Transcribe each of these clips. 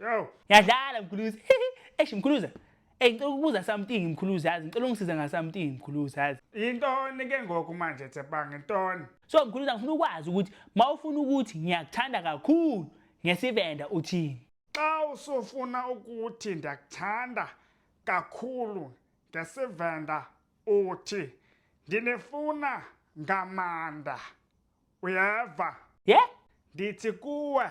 Yo. Yadlala mkhuluzi. Eish mkhuluza. Ey ngicela ukubuza something mkhuluzi yazi ngicela ungisiza nga something mkhuluzi yazi. Intoni ke ngoku manje Tsepang intoni? So mkhuluza ngifuna ukwazi ukuthi mawufuna ukuthi ngiyakuthanda kakhulu ngesivenda uthini? Xa usufuna ukuthi ndiyakuthanda kakhulu ngesivenda uthi ndinifuna ngamanda. Uyeva? Yeah? Ndithi kuwe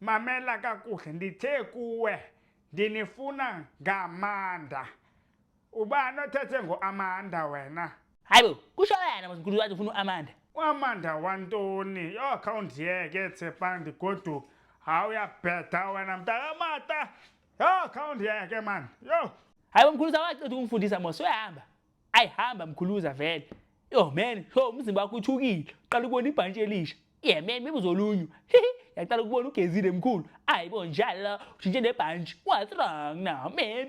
Mamela kakuhle ndithe kuwe ndinifuna ngamanda. Ubani othethe ngoAmanda wena? Hayi bo, kusho yena mkhulu wathi ufuna uAmanda. Uamanda wantoni? Yo khawundiyeke Tshepandi goduka. Hawu uyabheda wena mntakamata. Yo khawundiyeke man. Yo. Hayi bo mkhulu sawaqeda ukungifundisa mos uyahamba. ayi hamba mkhuluza vele yo man so umzimba wakho uthukile uqala ukubona ibhantshi elisha ye man maybe uzolunywa yaqala ukubona ugezile mkhulu ayi bo njalo ushintshe nebhantshi what's wrong now man